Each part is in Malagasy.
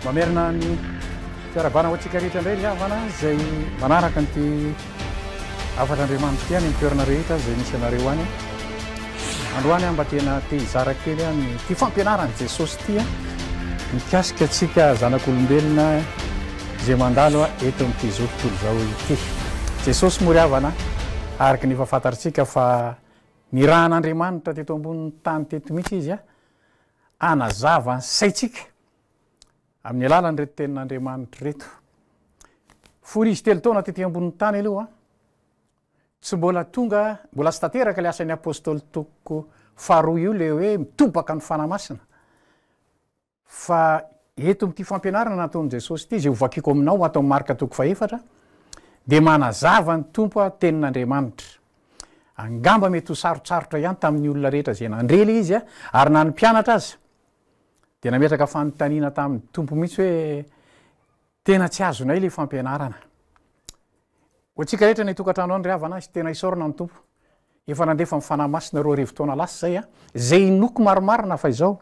Mamerina ny fiarahabana ho antsika rehetra indray ny havana izay manaraka ny te afatr'Andriamanitra ity any toerana rehetra izay misy anareo any. Androany aho mba tena te hizara kely aho ny ity fampianaran'i Jesosy ity mikasika antsika zanak'olombelona izay mandalo eto amin'ity zao tontolo izao ity. Jesosy moa ry havana araka ny efa fantatsika fa Nirahan'Andriamanitra teto ambonin'ny tany teto mihitsy Izy hanazava ny saintsika amin'ny alalan'ireto tenin'Andriamanitra ireto. Fony Izy telo taona tety ambonin'ny tany aloha, tsy mbola tonga, mbola tsy tanteraka ilay asan'ny Apôstôly toko faharoa io, ilay hoe mitobaka ny Fanahy Masina. Fa eto amin'ity fampianarana nataon'i Jesosy ity, izay hovakiko aminao ato amin'ny Marka toko fahefatra, dia manazava ny Tompo a, tenin'Andriamanitra. Angamba mety ho sarotsarotra ihany tamin'ny olona rehetra izay nandre ilay izy a, ary na ny mpianatra aza dia nametraka fanontaniana tamin'ny Tompo mihitsy hoe Tena tsy azonay ilay fampianarana. Ho antsika rehetra any an-tokantrano any ry havana izy tena isaorana ny Tompo. Efa nandefa ny Fanahy Masina roa arivo taona lasa izay a. Izay inoako marimarina fa izao,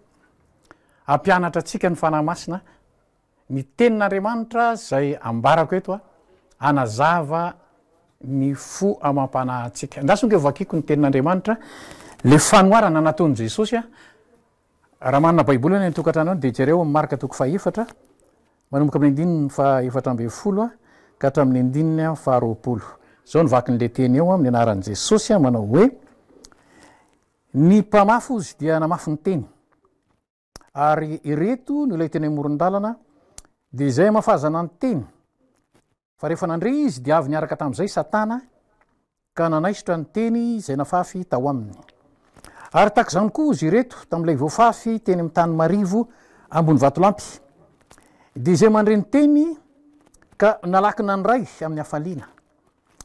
hampianatra antsika ny Fanahy Masina ny Tenin'Andriamanitra izay ambarako eto a, hanazava ny fo amam-panahintsika. Andraso ange hovakiako ny Tenin'Andriamanitra, ilay fanoharana nataon'i Jesosy a. Raha manana Baiboly any an-tokantrano any dia jereo amin'ny Marka toko fahaefatra, manomboka amin'ny andininy fahaefatra ambin'ny folo ka hatramin'ny andininy faharoapolo. Izao no vakin'ilay teny eo amin'ny anaran'i Jesosy, manao hoe, Ny mpamafy ozy dia namafy ny teny. Ary ireto no ilay teny amoron-dalana, dia izay hamafazana ny teny. Fa rehefa nandre izy, dia avy niaraka tamin'izay Satana, ka nanaisotra ny teny izay nafafy tao aminy. Ary tahaka izany koa izy ireto, tamin'ilay voafafy teny amin'ny tany marivo ambony vatolampy, dia izay mandre ny teny ka nalaky nandray amin'ny hafaliana,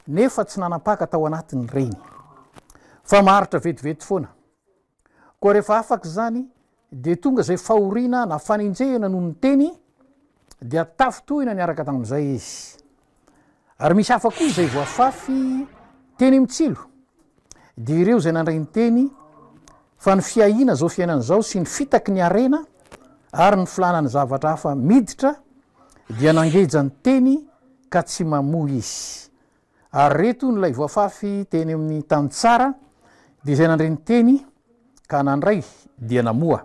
nefa tsy nanam-paka tao anatin'ireny, fa maharitra vetivety foana. Koa rehefa afaka izany, dia tonga izay fahoriana na fanenjehana noho ny teny, dia tafintohina niaraka tamin'izay izy. Ary misy hafa koa izay voafafy teny mitsilo, dia ireo izay nandray ny teny fa ny fiahiana izao fiainana izao sy ny fitaky ny harena ary ny filàna ny zavatra hafa miditra dia nangeja ny teny ka tsy mamoa izy. Ary re tony ilay voafafy teny amin'ny tany tsara, dia izay nandre ny teny ka nandray dia namoa,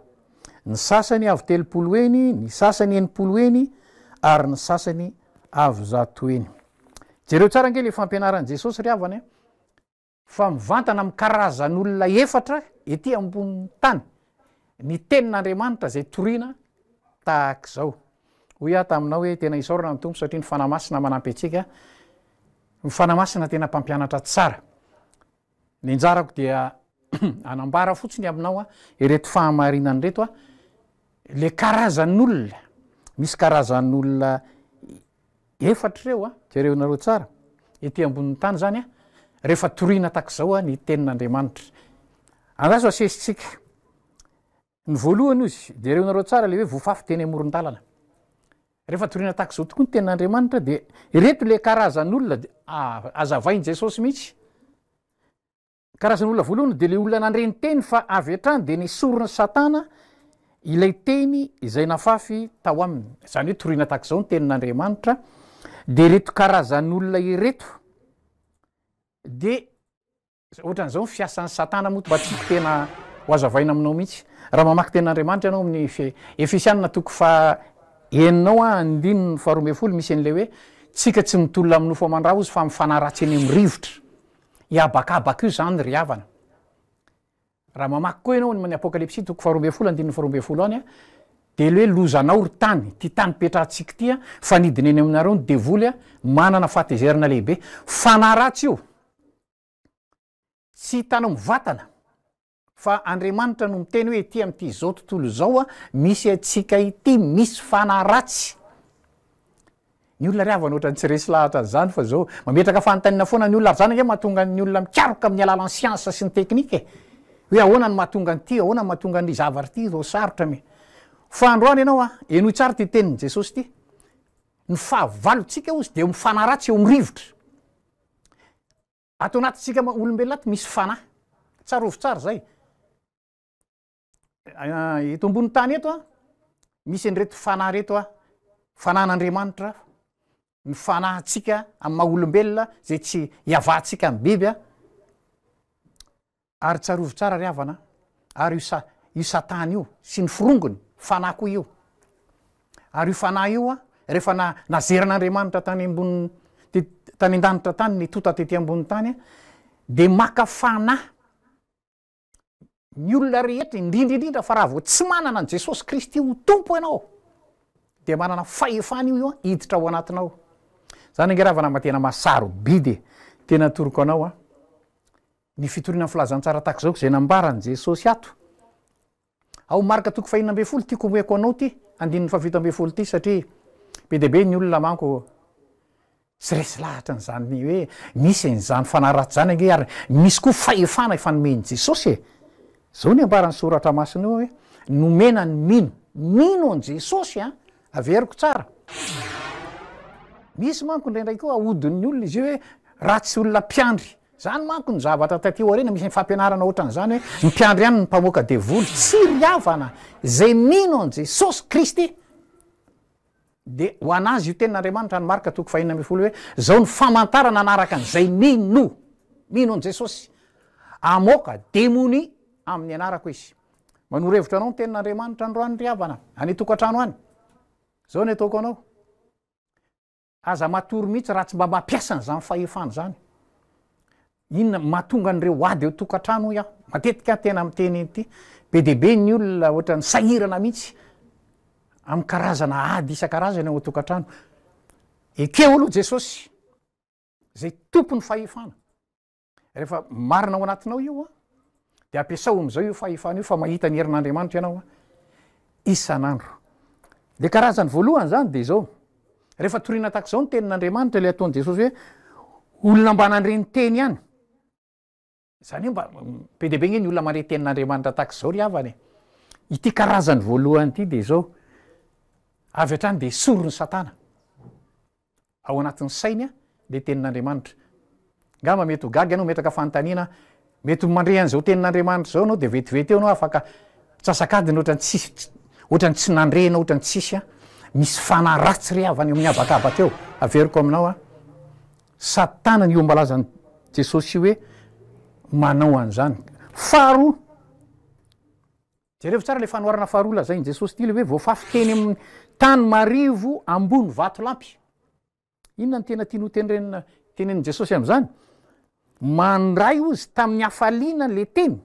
ny sasany avo telopolo heny, ny sasany enimpolo heny, ary ny sasany avo zato heny. Jereo tsara ange ilay fampianaran'i Jesosy ry havana e! fa mivantana amin'ny karazan'olona efatra ety ambonin'ny tany ny tenin'Andriamanitra izay toriana tahaka izao. Hoy aho taminao hoe tena isaorana ny Tompo satria ny Fanahy Masina manampy antsika, ny Fanahy Masina tena mpampianatra tsara. Ny anjarako dia anambara fotsiny aminao a, ireto fahamarinana ireto a, le karazan'olona, misy karazan'olona Efatra ireo a! Jereo nareo tsara, ety ambonin'ny tany izany a, rehefa torina tahaka izao a ny tenin'Andriamanitra. Andraso asesitsika. Ny voalohany ozy, jereo nareo tsara le hoe voafafy teny amoron-dalana. Rehefa torina tahaka izao tokoa ny tenin'Andriamanitra dia ireto le karazan'olona, azavain'i Jesosy mihitsy. Karazana olona voalohany dia ilay olona nandre ny teny fa avy hatrany dia nesorin'i Satana ilay teny izay nafafy tao aminy, izany hoe toriana tahaka izao ny tenin'Andriamanitra, dia ireto karazan'olona ireto dia ohatran'izao ny fiasan'i Satana moa mba tiako tena ho azavaina aminao mihitsy. Raha mamaky tenin'Andriamanitra ianao amin'ny Efesianina toko faha enina ao andininy faharoa ambin'ny folo misy an'ilay hoe tsika tsy mitolona amin'ny nofo aman-draha ozy fa amin'ny fanahy ratsy eny amin'ny rivotra. Hihabakabaka io izany ry havana. Raha mamaky koa ianao ny Apokalypsy toko faharoa ambin'ny folo andininy faharoa ambin'ny folo any, dia ilay hoe lozanao ry tany, ity tany ipetrahantsika ity, fa nidina eny aminareo ny devoly manana fahatezerana lehibe. Fanahy ratsy io. Tsy hitanao mivantana. Fa Andriamanitra no miteny hoe ety amin'ity izao tontolo izao misy antsika ity misy fanahy ratsy. Ny olona ry havana ohatran'ny tsy resy lahatra an'izany fa izao mametraka fanontaniana foana ny olona ary izany ange mahatonga ny olona mikaroka amin'ny alalan'ny siansa sy ny teknika e. Hoe ahoana no mahatonga an'ity, ahoana no mahatonga an'ity zavatra ity izao sarotra mi. Fa androany ianao a, henoy tsara ity tenin'i Jesosy ity, ny fahavalontsika hozy dia eo amin'ny fanahy ratsy, eo amin'ny rivotra. Ato anatintsika olombelona ato misy fanahy. Tsarovy tsara izay. Eto ambony tany eto a, misy an'ireto fanahy ireto a, fanahin'Andriamanitra, ny fanahintsika amin'ny maha olombelona izay tsy iavahantsika amin'ny biby a. Ary tsarovy tsara ry havana a, ary io sa, io Satana io sy ny forongony, fanahy koa io. Ary io fanahy io a, rehefa na, nazeran'Andriamanitra tany ambony, te, tany an-danitra tany ny tonta tety ambony tany a, dia maka fanahy ny olona rehetra, indrindra indrindra fa raha vao tsy manana an'i Jesosy Kristy ho Tompo ianao, dia manana fahefana io io hiditra ao anatinao ao. Izany ange ry havana mba tena maha-sarobidy e! Tena atoroko anao a, Ny fitoriana ny filazantsara tahaka izao izay nambaran'i Jesosy ato ao Marka toko fahenina ambin'ny folo, tiako homeko anao ity andininy fahafito ambin'ny folo ity satria be dia be ny olona manko tsy resy lahatra an'izany hoe misy an'izany fanahy ratsy izany ange ary misy koa fahefana efa nomen'i Jesosy e! Izao ny ambaran'ny soratra masina eo hoe nomena ny mino, mino an'i Jesosy an! Averiko tsara. Misy manko indraindray koa ahodin'ny olona izy io hoe ratsy olona mpiandry Izany manko ny zavatra taty aoriana, misy fampianarana ohatran'izany hoe ny mpiandry any ny mpamoaka devoly, tsy ry havana izay mino an'i Jesosy Kristy. Dia ho an'azy io tenin'Andriamanitra any Marka toko fahenina ambin'ny folo hoe izao ny famantarana hanaraka an'izay mino, mino an'i Jesosy, hamoaka demonia amin'ny anarako izy. Manoro hevitra anao ny tenin'Andriamanitra androany ry havana, any an-tokantrano any. Izao ny ataoko anao. Aza matory mihitsy raha tsy mba mampiasa an'izany fahefana izany. Inona mahatonga an'ireo ady eo tokantrano hoy aho. Matetika aho tena miteny an'ity. Be dia be ny olona ohatran'ny sahirana mihitsy amin'ny karazana ady isan-karazany ao an-tokantrano. Ekeo aloha Jesosy izay tompon'ny fahefana. Rehefa marina ao anatinao io a, dia ampiasao amin'izao io fahefana io fa mahita ny herin'Andriamanitra ianao a, isan'andro. Le karazany voalohany zany de izao, rehefa torina tahaka izao ny tenin'Andriamanitra le ataon'i Jesosy hoe olona mba nandre ny teny ihany, zany hoe mba be dia be nge ny olona mandre tenin'Andriamanitra tahaka izao ry havana e! ity karazany voalohany ity de izao, avy hatrany de esorin'i Satana, ao anatin'ny sainy ilay tenin'Andriamanitra. Angamba mety ho gaga ianao, metraka fanontaniana, mety mandre an'izao tenin'Andriamanitra izao ianao dia vetivety eo ianao afaka mitsasak'adiny ohatran'ny tsisy ohatran'ny tsy nandre ianao ohatran'ny tsisy a, misy fanahy ratsy re avy any amin'ny habakabaka eo, averiko aminao a, Satana ny ombam-balazan'i Jesosy hoe manao an'izany. Faharoa, Jerevo tsara le fanoharana faharoa lazain'i Jesosy ty le hoe voafafy teny amin'ny tany marivo ambony vatolampy. Inona ny tena tiany ho tenrenina tenenin'i Jesosy amin'izany? Mandray ozy tamin'ny hafaliana le teny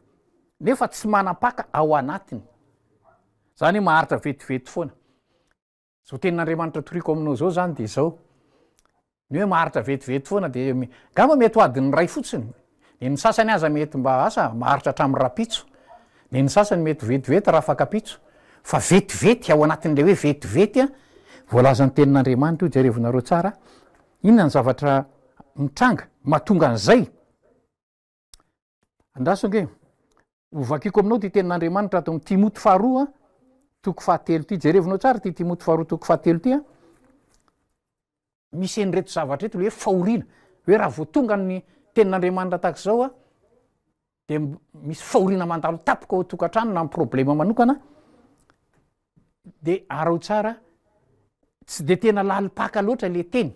nefa tsy manam-paka ao anatiny. Zany hoe maharitra vetivety foana. Zao tenin'Andriamanitra toriako aminao zao zany de zao, ny hoe maharitra vetivety foana de ngamba mety ho adin'ny iray fotsiny, de ny sasany aza mety mba asa maharitra hatramin'ny rahampitso, de ny sasany mety ho vetivety raha fankapitso, fa vetivety ao anatin'le hoe vetivety a, voalazan'ny tenin'Andriamanitra io jerevinareo tsara a, inona ny zavatra mitranga mahatonga an'zay? Andraso ange. Hovakiko aminao ity tenin'Andriamanitra ato amin'ny Timoty faharoa toko fahatelo ity. Jerevinao tsara ity Timoty faharoa toko fahatelo ity. Misy en'ireto zavatra eto le hoe fahoriana. Hoe raha vao tonga ny tenin'Andriamanitra tahaka izao dia misy fahoriana mandalo tapaka ao tokantrano na problema manokana dia arao tsara tsy dia tena lalim-paka loatra le teny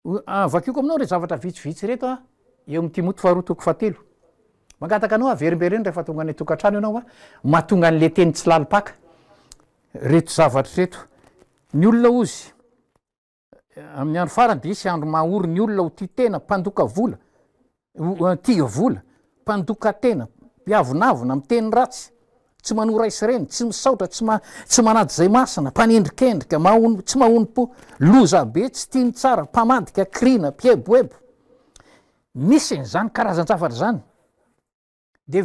Ho vakioko aminao ireto zavatra vitsivitsy ireto eo amin'ny Timoty faharoa toko fahatelo. Mangataka anao averimbereno rehefa tonga any an-tokantrano ianao fa mahatonga an'ilay teny tsy lalim-paka ireto zavatra ireto. Ny olona hozy amin'ny andro farany dia hisy andro maha ory ny olona ho tia tena, mpandoka vola, Tia vola, mpandoka tena, mpiavonavona, miteny ratsy, tsy manora isy reny, tsy misaotra, tsy ma, tsy manady izay masina, mpanendrikendrika, mahono, tsy mahonom-po, loza be, tsy tia ny tsara, mpamadika, krina, mpieboebo. Misy an'izany karazan-javatra izany. Dia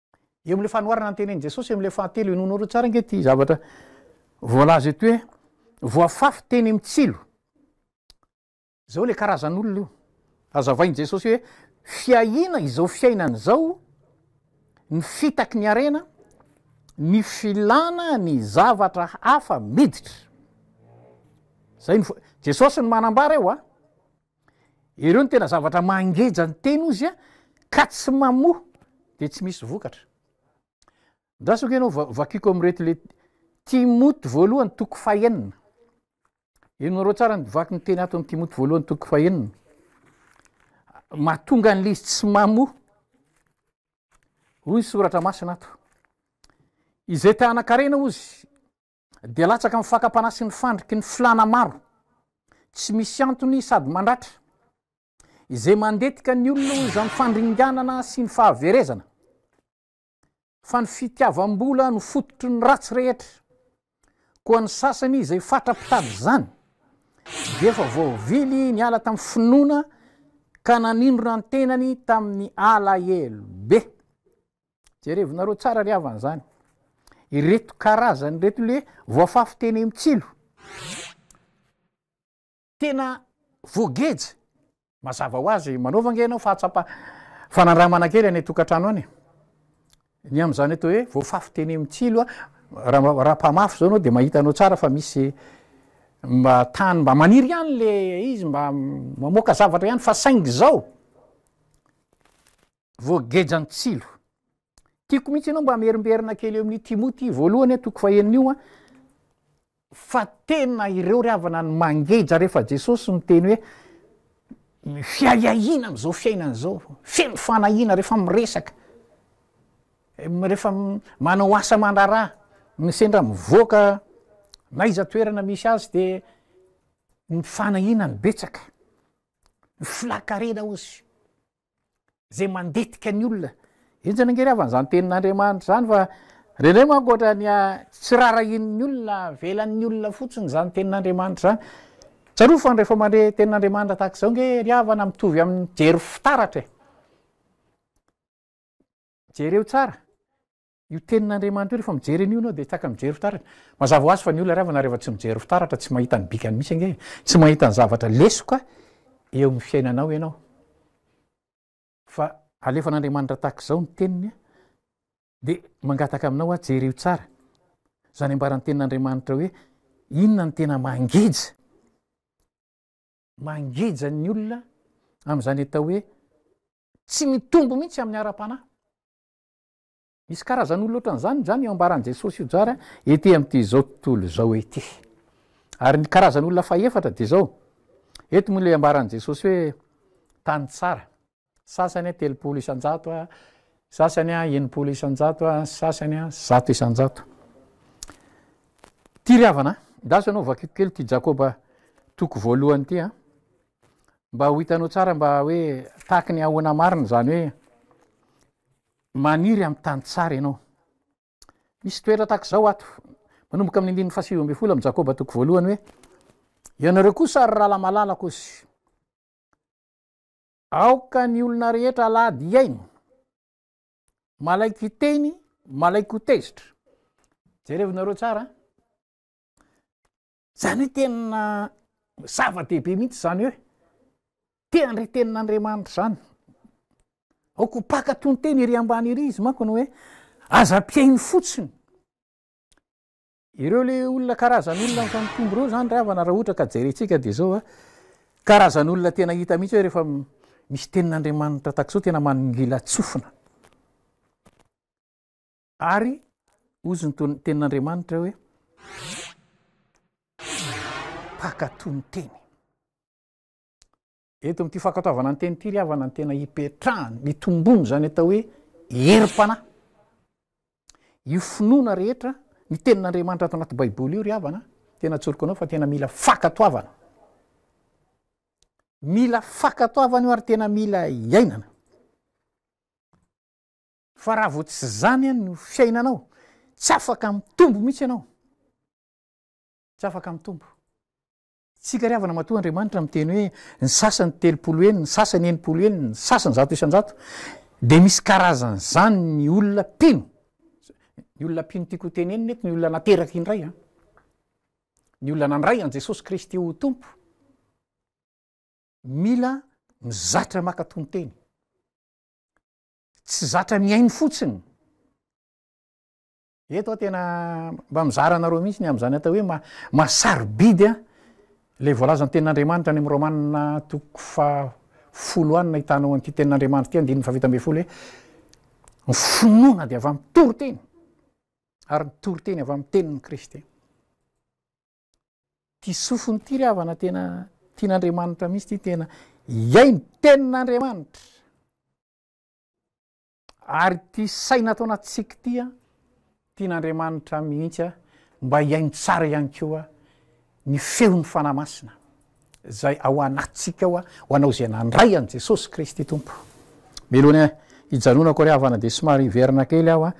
Eo amin'ilay fanoharana ny tenin'i Jesosy eo amin'ilay fahatelo, henoinareo tsara ange ity zavatra voalaza eto hoe voafafy teny amin'ny tsilo. Izao ilay karazan'olona io. Azavain'i Jesosy hoe fiahiana izao fiainana izao, ny fitaky ny harena, ny filana ny zavatra hafa miditra. Zay ny Jesosy no manambara eo a. Ireo no tena zavatra mangeja ny teny ozy a ka tsy mamoha de tsy misy vokatra ndrasako ianao va- vakiko am'ireto le timoty voalohany toko fahenina enonareo tsara ny vaky ny teny ato amin'ny timoty voalohany toko fahenina mahatonga an'le izy tsy mamoha hoy ny soratra masina ato izay tanan-karena ozy Dia latsaka amin'ny fakam-panahy sy ny fandriky ny filàna maro tsy misy antony sady mandratra, izay mandetika ny olona ho izany fandringanana sy ny fahaverezana, fa ny fitiavam-bola no fototry ny ratsy rehetra, koa ny sasany izay fatra mpitady izany dia efa voavily niala tamin'ny finoana ka nanindrona ny tenany tamin'ny alahelo be. jerevinareo tsara ry havana zany ireto karazany reto le voafafy teny am tsilo tena voageja mazava ho azy manaova nge ianao fahatsapa fanandramana kely any tokantrano any ny am'zany atao hoe voafafy teny am tsilo a raha mpamafy zao anao de mahita anao tsara fa misy mba tany mba maniry ihany le izy mba mamoaka zavatra ihany fa saingy zao voageja ny tsilo. Tiako mihitsy ianao mba merimberina kely eo amin'ny Timoty voalohany a toko fahenina io a fa tena ireo ry havana ny mangeja rehefa Jesosy miteny hoe fiahiahiana am'izao fiainana izao feno fanahiana rehefa miresaka rehefa manao asa mandraraha ny sendra mivoaka na iza toerana misy azy de ny fanahiana ny betsaka ny filakarena ozy zay mandetika ny olona enjana ange ry havana zany tenin'Andriamanitra zany fa rendreo manko ohatra ny tsy rarahian'ny olona avelan'ny olona fotsiny zany tenin'Andriamanitra zany tsarovy fa rehefa mandre tenin'Andriamanitra tahaka izao nge ry havana mitovy amin'ny jery fitaratra e jereo tsara Io tenin'Andriamanitra io rehefa mijery an'io ianao dia tsy afaka mijery fitaratra. Mazava ho azy fa ny olona iray vao na rehefa tsy mijery fitaratra tsy mahita ny bikany mihitsy ange e. Tsy mahita ny zavatra lesoka eo amin'ny fiainanao ianao. Fa alefan'Andriamanitra tahaka izao ny teniny dia mangataka aminao aho jereo tsara izany ambaran'ny tenin'Andriamanitra hoe inona ny tena mangeja mangeja ny olona amin'izany atao hoe tsy mitombo mihitsy amin'ny ara-panahy. Misy karazan'olona ohatran'izany izany io ambaran'i Jesosy io jara ety amin'itizao tontolo izao ity. Ary ny karazan'olona fahefatra dia izao, eto moa ilay ambaran'i Jesosy hoe tany tsara, sasany a telopolo isan-jato a, sasany a enimpolo isan-jato a, sasany a zato isan-jato. Ty ry havana, ndaso ianao vakiko kely ty Jakoba toko voalohany ity a, mba ho hitanao tsara mba hoe tahaky ny ahoana marina izany hoe Maniry amin'ny tany tsara ianao. Misy toetra tahaka izao ato, manomboka amin'ny andininy fahasivy ambin'ny folo amin'ny Jakoba toko voalohany hoe, Ianareo kosa ry ralamalalako sy aoka ny olona rehetra alahady hihaino, malaiky hiteny, malaiky ho tezitra. Jerevinareo tsara, Zany hoe tena zava-dehibe mihitsy zany hoe te handre tenin'Andriamanitra izany. Aoka ho paka toy ny teny ery ambany ery izy manko no hoe aza ampihaino fotsiny. Ireo le olona karazan'olona fa mitombo ireo zany ry havana raha ohatra ka jerentsika dia zao a. Karazan'olona tena hita mihitsy hoe rehefa misy tenin'Andriamanitra takzao tena maningila tsofina. Ary hozy ny tenin'Andriamanitra hoe, Mpankatò ny teny. Eto amin'ity fankatoavana ny teny ity ry havana ny tena hipetrahany, mitombony izany atao hoe herim-panahy. Io finoana rehetra ny tenin'Andriamanitra ato anaty Baiboly io ry havana, tena atsoriko anao fa tena mila fankatoavana. Mila fankatoavana io ary tena mila iainana. Fa raha vao tsy zany an no fiainanao, tsy afaka mitombo mihitsy ianao. Tsy afaka mitombo. Tsika ry havana matoa Andriamanitra miteny hoe ny sasany telopolo heny, ny sasany enimpolo heny, ny sasany zato isan-jato, dia misy karazan'izany ny olona mpino. Ny olona mpino tiako hotenenina eto, ny olona nateraka indray an. Ny olona nandray an'i Jesosy Kristy ho Tompo. Mila mizatra maka tonon-teny. tsy zatra mihaino fotsiny eto a tena mba mizara anareo mihitsy ny am'zany atao hoe ma masarobidy a le voalazany tenin'andriamanitra any am romanina toko fa folo any na hitanao an'ity tenin'andriamanitra ty andininy fafita ambe folo hoe ny finoana de avy am'ny toro teny ary ny toro teny avy am'ny tenin'ny kristy ty sofiny ty ry havana tena tian'andriamanitra mihitsy ty tena iaino tenin'andriamanitra Ary ity saina ataona tsiky ity an, tian'Andriamanitra mihitsy an, mba hihaino tsara ihany koa ny feon'ny Fanahy Masina izay ao anatintsika ao, ho anao izay nandray an'i Jesosy Kristy Tompo. Melohina hijanonako ry havana dia somary hiverina kely aho an,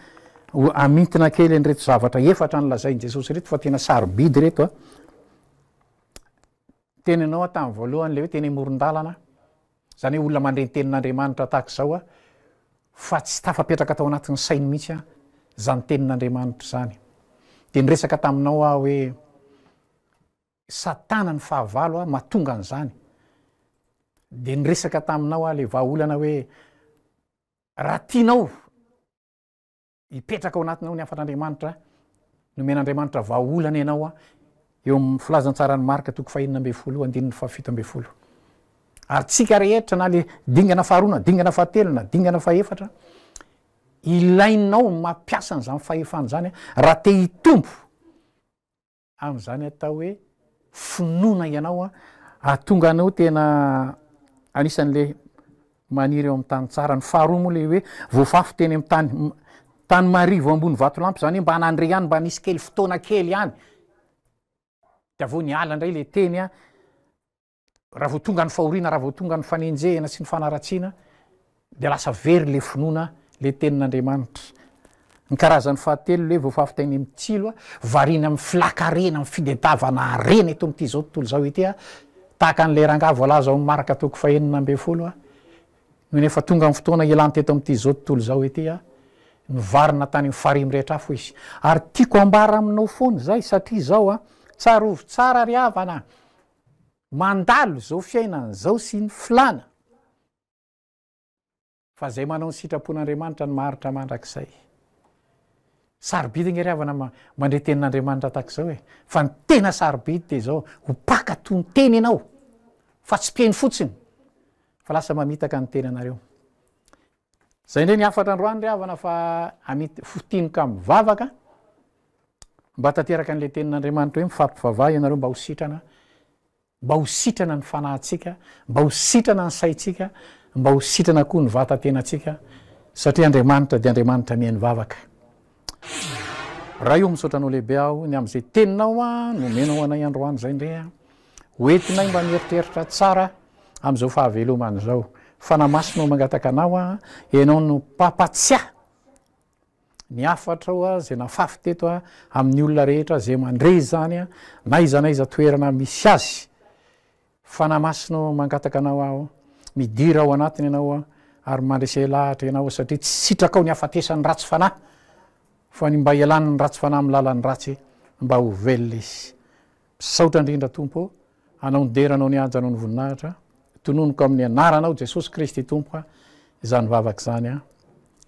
ho hamintina kely an'ireto zavatra efatra nolazain'i Jesosy ireto fa tena sarobidy ireto an. Teny anao an tamin'ny voalohany ilay hoe teny amoron-dalana, Izany hoe olona mandre ny tenin'Andriamanitra tahaka izao aho fa tsy tafapetraka tao anatin'ny sainy mihitsy aho izany tenin'Andriamanitra izany. Dia niresaka taminao aho hoe Satana ny fahavalo aho mahatonga an'izany. Dia niresaka taminao aho ilay vahaolana hoe raha tianao Hipetraka ao anatinao ny hafatr'Andriamanitra, nomen'Andriamanitra vahaolana ianao eo amin'ny filazantsaran'i Marka toko fahenina ambin'ny folo andininy fahafito ambin'ny folo. Ary tsika rehetra na le dingana faharoa na dingana fahatelo na dingana fahefatra, ilainao ny mampiasa an'izany fahefana izany raha te hitombo amin'izany atao hoe finoana ianao an, ahatonga anao tena anisan'ilay maniry eo amin'ny tany tsara. Ny faharoa moa ilay hoe voafafy teny amin'ny tany tany marivo ambony vatolampy, izany hoe mba nandre ihany, mba nisy kely fotoana kely ihany, dia avy eo niala indray ilay teny an, raha vao tonga ny fahoriana raha vao tonga ny fanenjehina sy ny fanaratsiana dia lasa very le finoana le tenin'andriamanitra ny karazan'ny fahatelo le voafafitainy amin'ny tsilo a variana amin'ny filakarena amin'ny fidedavana arena eto amin'ity izao tontolo izao ity a tahaka an'ilay rangaha voalaza ao amin'ny maraka toko fahenina ambin'ny folo a no nefa tonga amin'ny fotoana ilany teto amin'ity izao tontolo izao ity a nyvarina tany amin'ny farihy mirehitra afo izy ary tiako ambara aminao foana izay satria izao a tsarovy tsara ry havana mandalo izao fiainana izao sy ny filàna fa izay manao ny sitrapon'Andriamanitra no maharitra mandrakizay. Sarobidy nge ry havana mandre tenin'Andriamanitra tahaka izao e. Fa ny tena sarobidy dia izao, ho mpaka toy ny teny ianao fa tsy mpiheno fotsiny fa lasa mamitaka ny tenanareo. Zay ndray ny hafatra androany ry havana fa amity fo tiny ka mivavaka mba tanteraka an'le tenin'Andriamanitra hoe mifampivavaha ianareo mba ho sitrana mba ho sitrana ny fanahintsika mba ho sitrana ny saintsika mba ho sitrana koa ny vatan-tenantsika satria Andriamanitra dia Andriamanitra mihaino vavaka Ray o misaotra anao lehibe aho ny amin'izay teninao a nomenao anay androany zay ndre a ho entinay mba mieritreritra tsara amin'izao fahavelomana izao fanahy masina no mangataka anao a ianao no mpampatsiahy ny hafatrao a zay nafafy teto a amin'ny olona rehetra zay mandre izany a na iza na iza toerana misy azy Fanahy Masina ô, mangataka Anao aho, midira ao anatiny Ianao ary mandresy lahatra Ianao, satria tsy sitrakao ny hafatesan'ny ratsy fanahy, fa ny mba hialan'ny ratsy fanahy amin'ny lalan'ny ratsy, mba ho velona izy. Misaotra indrindra Tompo ô, Anao nidera Anao nihajanao ny voninahitra, tononiko amin'ny Anaranao Jesosy Kristy Tompo izany vavaka izany.